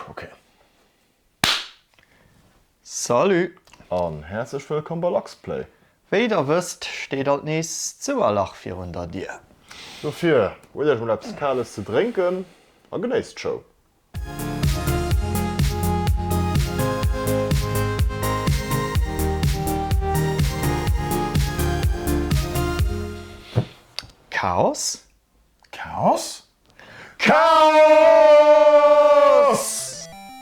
Ok. Salut! An häerzlech wëllkomm bei Luxplay! Wéi der wësst, steet alt nees d'Souerlach virun der Dier. Dofir huelt iech mol eppes Kales ze drénken a genéisst d'Show! Chaos? Chaos? Chaos!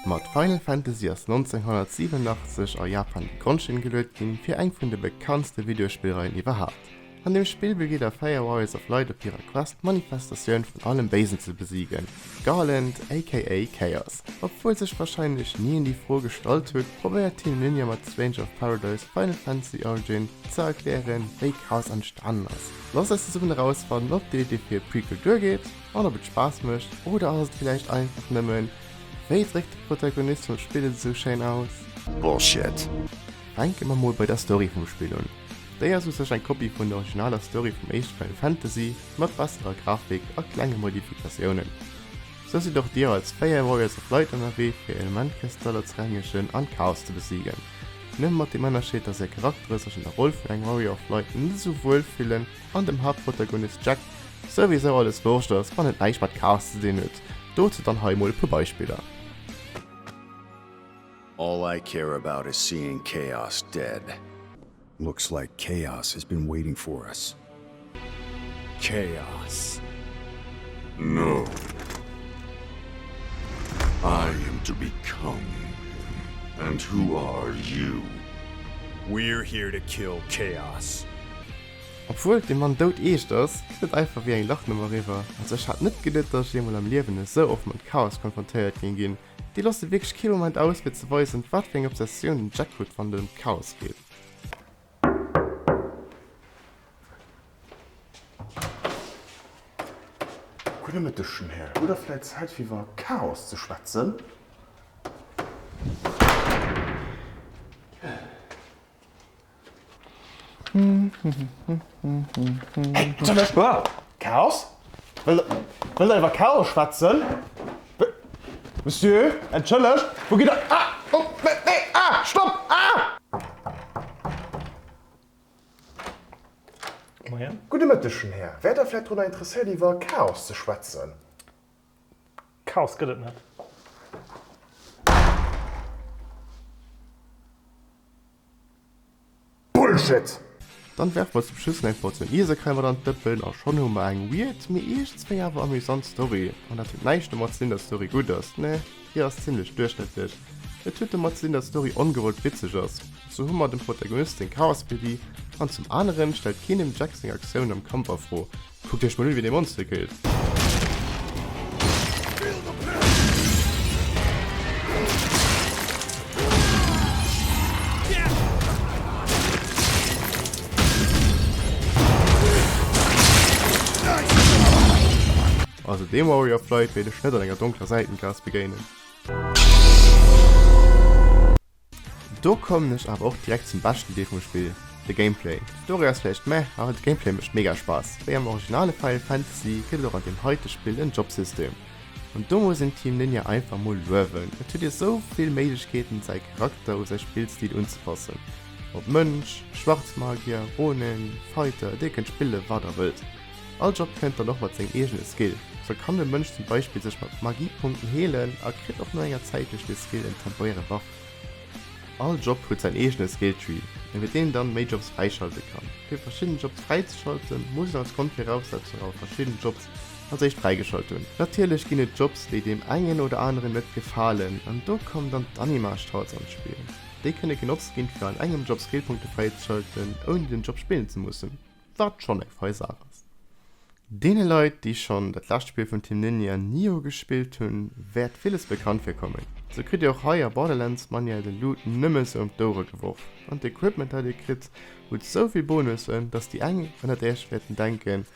Mat Final Fantasy ass 1987 a Japan déi Grondstinn geluet ginn fir eng vun de bekanntste Videospillreien iwwerhaapt. An deem Spill begleet der 4 Warriors of Light op hirer Quest d'Manifestatioun vun allem Béisen ze besiegen, Garland aka Chaos. Obwuel sech warscheinlech ni een déi Fro gestallt hutt, probéiert Team Ninja mat Stranger of Paradise Final Fantasy Origin ze erklären, wéi Chaos entstanen ass. Looss eis zesummen erausfannen, ob dir dir fir Prequel duergeet an ob et Spaass mécht. Oder ass et vläicht einfach nëmmen, Wéi dréckt de Protagonist vum Spill et esou schéin aus? Bullshit! Fänke mer mol bei der Story vum Spill un. Déi ass u sech eng Kopie vun der originaler Story vum éischte Final Fantasy, mat besserer Grafik a klenge Modifikatiounen. Sou sidd och dir als 4 Warriors of Light ënnerwee fir Elementkristaller ze rengegen an Chaos ze besiegen. Nëmme mat dem Ënnerscheed, dass säi Charaktere sech an der Roll vun engem Warrior of Light net esou wuel fillen an dem Haaptprotagonist Jack souwisou alles Wurscht ass, wann et näischt mat Chaos ze dinn huet. Dozou dann hei emol e puer Beispiller. All I care about is seeing Chaos dead. Looks like chaos has been waiting for us. Chaos! No! I am to become him. And who are you? We're here to kill chaos! Obwuel de Mann doud eescht ass, geet et einfach wéi eng Lachnummer eriwwer. Also ech hat net geduet, dass ech eemol am Liewen esou oft mat Chaos konfrontéiert géing ginn, Déi loosse wierklech kee Moment aus fir ze weisen, wat fir eng Obsessioun den Jack huet, wann et ëm d'Chaos geet. Gudde Mëtteg, Jonn Här. Hutt Der vläit Zäit fir iwwer Chaos ze schwätzen? Chaos? Wëllt der iwwer Chaos schwätzen? Monsieur, entschëllegt, wou gitt Der. Gudde Mëtteg, jonn Här. Wäert Der vläicht drunner interesséiert, iwwer Chaos ze schwätzen? Chaos gëtt et net. Bullshit! Dann werfen mer zum Schluss nach eng Portioun Ieserkräi mat an d'Dëppen a schonn hu mer eng weird, mee iergends wéi awer amüsant Story. An dat huet näischt domat ze dinn, datt d'Story gutt ass, nä, hir ass zimmlech duerchschnëttlech. Et huet domat ze dinn, datt d'Story ongewollt witzeg ass. Sou hu mer dem Protagonist seng Chaospedie an zum aneren stellt keen dem Jack seng Aktioun am Kampf a Fro. Kuckt iech mol un wéi dee Monster killt. Also dem Warrior of Light wéilt ech net an enger donkler Säitengaas begéinen. Do kommen ech awer och direkt zum beschten Deel vum Spill, de Gameplay. D'Story ass vläicht meh, awer de Gameplay mécht mega Spaass. Wéi am originale Final Fantasy gëtt et och an deem heite Spill en Jobsystem. An do muss een Team Ninja einfach mol luewen, et huet ee sou vill Méiglechkeeten säi Charakter u säi Spillstil unzepassen, ob Mënsch, Schwarzmagier, Ronin, Fighter, dir kënnt spillen wat der wëllt. All Job kënnt dann och mat sengem eegene Skill. Sou kann de Mënsch zum Beispill sech mat Magiepunkten heelen a kritt och no enger Zäit duerch dee Skill en temporäre Buff. All Job huet säin eegene Skilltree, iwwert deen een dann méi Jobs fräischalte kann. Fir verschidden Jobs fräizeschalten, muss een als Grondviraussetzung awer verschidden Jobs als éischt fräigeschalt hunn. Natierlech ginn et Jobs, déi deem engen oder aneren net gefalen, an do kommen dann d'Anima-Strats an d'Spill. Déi kënne genotzt ginn, fir an engem Job Skillpunkte fräizeschalten, ouni den Job spillen ze mussen. Wat schonn eng fei Saach ass. Deene Leit, déi schonn dat lescht Spill vun Team Ninja Nioh gespillt hunn, wäert villes bekannt virkommen. Sou kritt dir och hei a Borderlands manuell de Loot nëmme sou ëm d'Ouere geworf, an d'Equipment dat dir kritt hutt sou vill Bonussen, dass déi eng ënnert iech wäerten denken,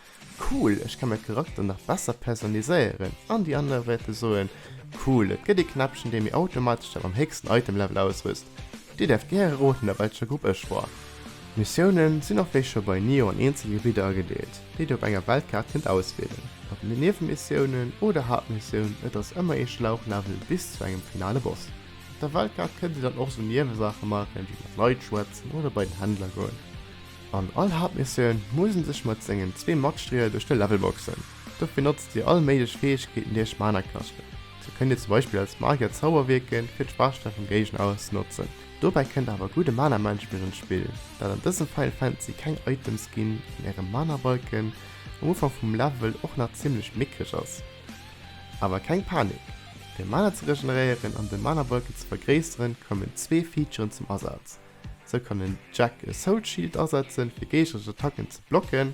Cool, ech ka mäi Charakter nach besser personnaliséieren, an déi aner wäerte soen, Cool, et gëtt ee Knäppchen, dee mir automatesch dat mam héchsten Item-Level auswëst. Dir däerft gäre roden, a welcher Grupp ech war. D'Missiounen sinn och wéi scho bei Nioh an eenzel Gebidder agedeelt, déi dir op enger Weltkaart kënnt auswielen. Op Niewenmissiounen oder Haaptmissioun, et ass ëmmer ee Schlauchlevel bis zu engem finale Boss. Op der Weltkaart kënnt dir dann och sou Niewesaache maachen, wéi mat Leit schwätzen oder bei den Händler goen. An all Haaptmissioun muss en sech mat sengen zwee Matstrieler duerch de Level boxen. Dofir notzt dir all méiglech Fäegkeeten déi iech Mana kaschten. Sou kënnt dir zum Beispill als Magier Zauber wierken fir d'Schwaachsteng vum Géigner auszenotzen. Dobäi kënnt awer gudde Mana Management an d'Spill, dat an dësem Final Fantasy keng Items ginn an äre Mana Balken um Ufank vum Level och nach zimmlech méckreg ass. Awer keng Panik, fir Mana ze regeneréieren an de Mana Balken ze vergréisseren kommen zwee Featuren zum Asaz. Sou kann den Jack e Soul Shield asetzen fir géigneresch Attacken ze blocken,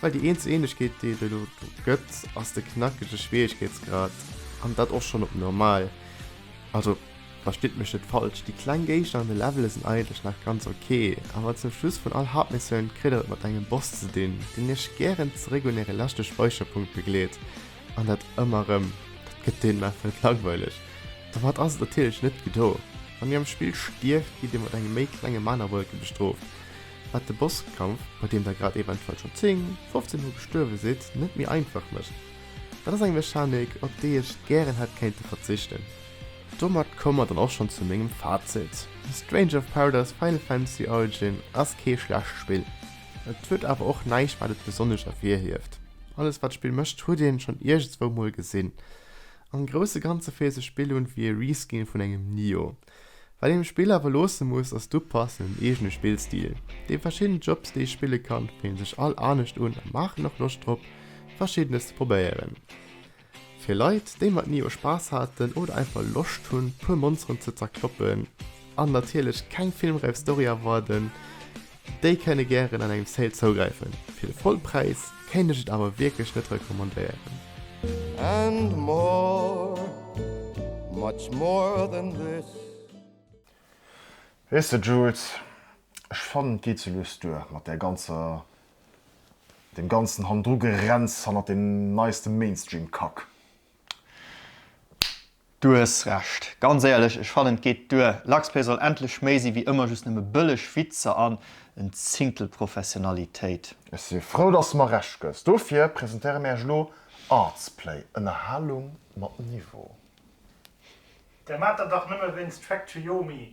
Well déi eenz Ähnlechkeet déi et elo do gëtt ass de knackege Schwieregkeetsgrad an dat och schonn op normal. Also verstitt mech net falsch, déi kleng Géigner an de Levele sinn eigentlech nach ganz ok, awer zum Schluss vun all Haaptmissioun kritt der et mat engem Boss ze dinn deen iech gären zeréck un äre leschte Speicherpunkt begleet an dat ëmmer rëm. Dat gëtt deenen einfach net langweileg. Domat ass et natierlech net gedo. Wann dir am Spill stierft gitt dir mat engem méi klenge Manawolke bestrooft. wat de Bosskampf, bei deem der grad eventuell schonn 10, 15 mol gestuerwe sidd, net méi einfach mécht. Dat ass eng Mechanik, op déi ech gären hätt kéinte verzichten. Domat komme mer dann och schonn zu mengem Fazit, Stranger of Paradise Final Fantasy Origin ass kee schlecht Spill. Et huet awer och näischt wat et besonnesch ervirhieft. Alles wat d'Spill mécht huet een schonn iergendswou mol gesinn. Am grousse ganze féilt sech Spill un wéi e Reskin vun engem Nioh. Wat een um Spill awer loosse muss ass du passenden eegene Spillstil. Déi verschidden Jobs déi ee spille kann, fillen sech all anescht un a maachen och Loscht drop verschiddenes ze probéieren. Fir Leit déi mat Nioh Spaass haten oder einfach Loscht hunn puer Monsteren ze zerkloppen an natierlech keng filmräif Story erwarden, Déi kënne gären an engem Sale zougräifen, fir de voll Präis kéint ech et awer wierklech net recommandéieren. And more, much more than this. Weess de Jules, ech fannen et geet sou lues duer mat där ganzer, deem ganzen Hannendrugerenns hannert deem neiste Mainstream-Kack. Du hues Recht. Ganz éierlech, ech fannen et geet duer. Luxpay soll endlech méi si wéi ëmmer just nëmme bëlleg Witzer an en Zinktel Professionalitéit. Ech si frou dass de mer Recht gëss. Dofir presentéiere mir Iech elo Artsplay, Ënnerhalung mat Niveau. Där maat der dach nëmme wéinst Factoyomi.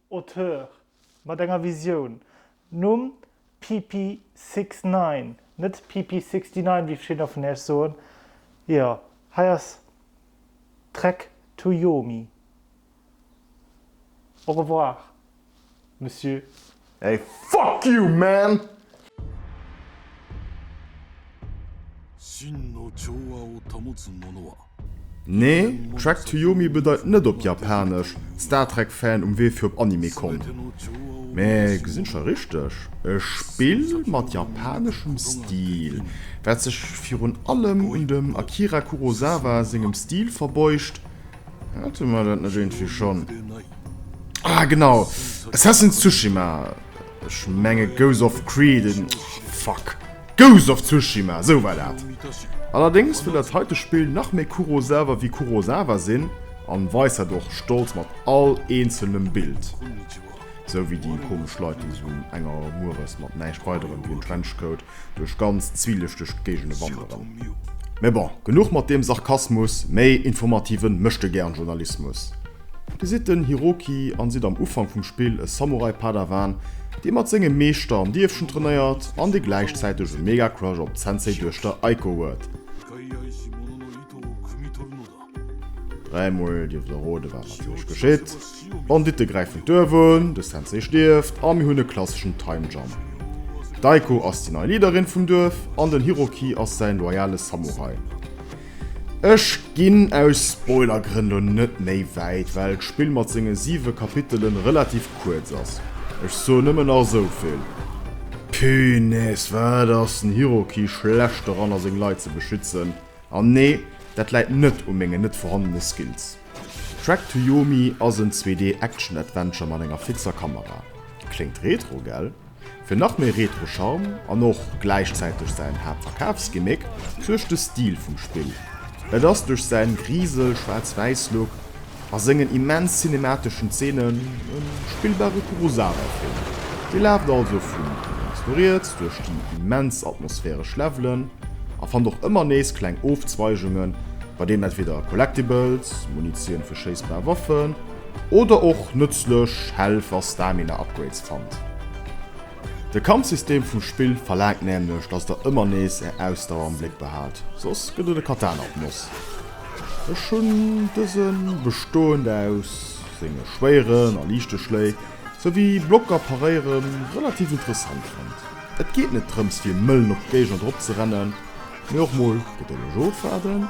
Auteur mat enger Visioun, Numm, Pipi 69, net PP 69 wéi verschiddener vun Iech soen, jo hei ass Trek to Yomi. Au revoir Monsieur. Hey fuck you man! Nee, Trek to Yomi bedeit net op Japanesch Star Trek Fan um Wee fir op Anime Con. Mä gesinn ech da richteg? E Spill mat japaneschem Stil, wat sech virun allem un dem Akira Kurosawa sengem Stil verbeugt? Hate mer dat net iergendwéi schonn? Ah genau, Assassin's Tsushima! Ech menge Ghost of Creed in... Fuck! Ghost of Tsushima, sou war dat! Allerdéngs wëll dat heite Spill nach méi Kurosawa wéi Kurosawa sinn an weist dat och stolz mat all eenzelnem Bild. Sou wéi déi komesch Leit déi sou um enger mueres mat näischt weiderem wéi en Trenchcoat duerch ganz zwielichteg Géigende wanderen. Mee bon, genuch mat deem Sarkasmus, méi informativen Méchtegern-Journalismus. Dir sidd den Hiroki an sidd am Ufank vum Spill e Samurai-Padawan, dee mat sengem Meeschter am Dierfchen trainéiert an dee gläichzäiteg e mega Crush op d'Sensei-Duechter Aiko huet. Dräi mol dierft der roden, wat natierlech geschitt. D'Banditte gräifen d'Duerf un, de Sensei stierft a mir hunn e klasseschen Time Jump. D'Aiko ass déi nei Leaderin vum Duerf an den Hiroki ass säin loyale Samurai. Ech ginn aus Spoilergrënn lo net méi wäit, well d'Spill mat senge 7 Kapitelen relativ kuerz ass. Ech soen nëmmen nach esouvill, Punaise, wat ass den Hiroki schlecht doranner seng Leit ze beschützen. An nee, dat läit net u mengen net vorhandene Skills. Track to Yomi ass en 2D Action Adventure mat enger fixer Kamera. Kléngt retro, gell? Fir nach méi Retro-Charme an och gläichzäiteg säin Haaptverkafsgimmick suergt de Stil vum Spill. Et ass duerch säin Grisel-, Schwaarz-Wäiss-Look a sengen immens cinemateschen Zeenen e spillbare Kurosawa-Film. Dir laaft also vu lénks no riets duerch déi immens atmosphäresch Levelen a fannt och ëmmer nees kleng Ofzweigungen, bei deenen entweder Collectibles, Munitioun fir schéissbar Waffen, Oder och nëtzlech Health a Stamina Upgrades fannt. De Kampfsystem vum Spill verlaangt nämlech dass der ëmmer nees är Ausdauer am Bléck behaalt, soss gëtt et e Katana op d'Noss. Ech hunn dësen, bestoend aus senge schwéieren a liichte Schléi, souwéi Blocker paréieren, relativ interessant fonnt. Et geet net drëms fir mëllen op d'Géigner drop ze rennen. mee och mol fir de Legeot waarden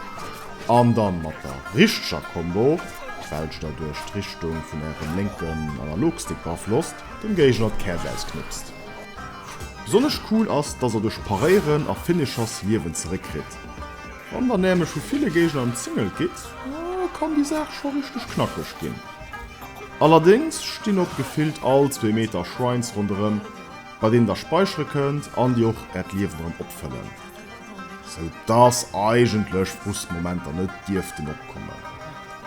an dann mat der richteger Combo, d'Belsch da duerch d'Richtung vun ärem lénken Analogstick beaflosst, dem Géigner d'Käerch ausknipst. Besonnesch cool ass, dass der duerch Paréieren a Finishers Liewen zeréckkritt. Wann der nämlech vu ville Géigner emzingelt gitt, kann déi Saach scho richteg knackeg ginn. Allerdéngs stinn op gefillt all zwee Meter Shrines ronderëm. bei deenen der speichere kënnt an dir och äert Liewen dran opfëllen, sou dass eigentlech Frustmomenter net dierften opkommen.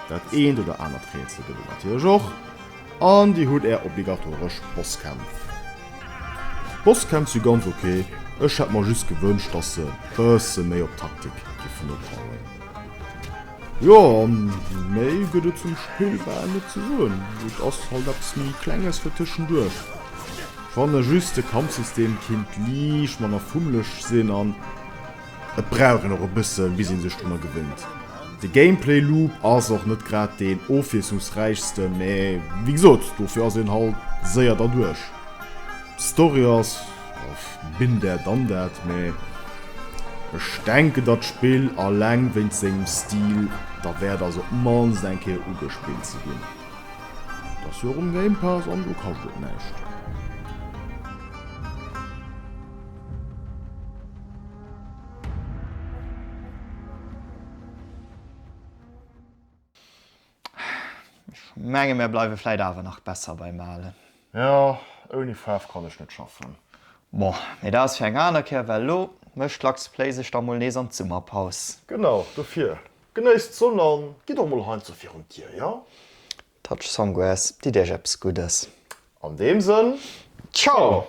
Dat eent oder anert Rätsel gëtt et natierlech och an dir hutt är obligatoresch Bosskämpf. D'Bosskämpf si ganz ok, ech hätt mer just gewënscht dass se e bësse méi op Taktik géifen opbauen. Jo méi gëtt et zum Spill bal net ze soen, et ass halt eppes méi klenges fir tëschenduerch. Fanne just de Kampfsystem kinnt liicht manner fummeleg sinn an et brauch een och e bësse bis een sech drunner gewinnt. De Gameplay Loop ass och net grad deen ofwiesslungsräichsten, mä wéi gesot dofir ass een halt séier derduerch. D'Story ass. Ech bin der dann dat, mä ech denken datt d'Spill alleng wéinst sengem Stil derwäert ass op d'mannst eng Kéier ugespillt ze ginn. Et ass jo och um Game Pass an do kascht et näischt. Ech menge mär bleiwe vläit awer nach besser beim Alen. Jo, ouni Faarf kann ech net schaffen. Bon, mee dat ass fir eng aner Kéier, well elo mécht d'Lux Play sech da mol nees an d'Summerpaus. Genau, dofir genéisst d'Sonn a gitt och mol heiansdo virun d'Dier, jo? Touch Songwes, ditt Iech eppes Guddes. An deem Sënn, Ciao!